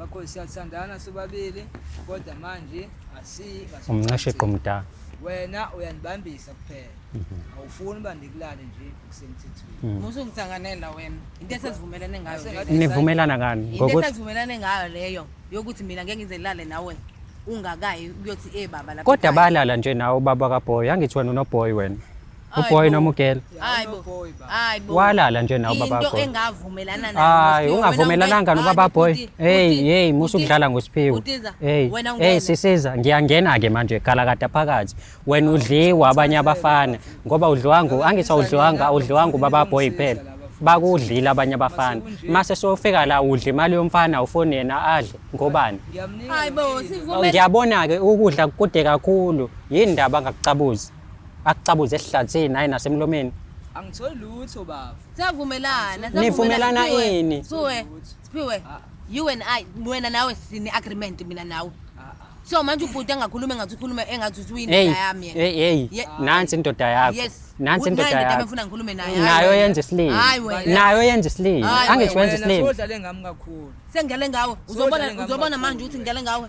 bakho siyathandana sobabili kodwa manje asiyi umncasheqo mdala wena uyanibambisa kuphela mhm. awufuni uba ndikulale nje kusemthethweni mhm. musu ngithanganela wena into esizivumelane ngayo nivumelana ngani ngokuthi into esizivumelane ngayo leyo yokuthi mina ngeke ngize ngilale nawe ungakayi kuyothi eh baba lapha kodwa balala nje nawe ubaba kaboy angithi wena unoboy wena Uboy noma ugirl? Hayi bo. Hayi bo. Walala nje nawo baba boy. Into engavumelana nayo. Hayi ungavumelananga nobaba boy. Hey hey musu kudlala ngosiphiwo. Hey hey sisiza ngiyangena ke manje gala kade phakathi. Wena udliwa abanye abafana ngoba udliwanga angithi awudliwanga awudliwanga ubaba boy phela. bakudlile abanye abafana mase sofika la udle imali yomfana ufone yena adle ngobani hayibo sivumela ngiyabona ke ukudla kude kakhulu yini ndaba ngakucabuzi Akucabuze esihlathini hayi nasemlomeni. Angitholi lutho baba. Siyavumelana. Nivumelana ini? Suwe. Siphiwe. Ah. You and I wena nawe sine agreement mina nawe. Ah, ah. So manje ubhuti engakhuluma engathi ukhuluma engathi usuyini yami yena. Hey hey. Nansi indoda yakho. Yes. nansi indoda yakho ngifuna ngikhulume naye nayo yenza isilima nayo yenza isilima angisho wenza isilima udlale ngami kakhulu sengidlale ngawe uzobona uzobona manje ukuthi ngidlale ngawe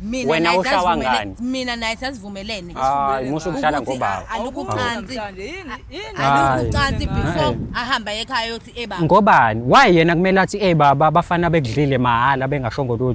Mina Wena naye ushawa sasivumele- ngani? mina naye sasivumelene Hayi, musa ukudlala Ukuthi ngobaba. a- alukho ucansi alukho ucansi before ahamba ekhaya yothi ebaba Ngobani? Why yena kumele athi eh baba abafana bekudlile mahhala bengashongo lutho.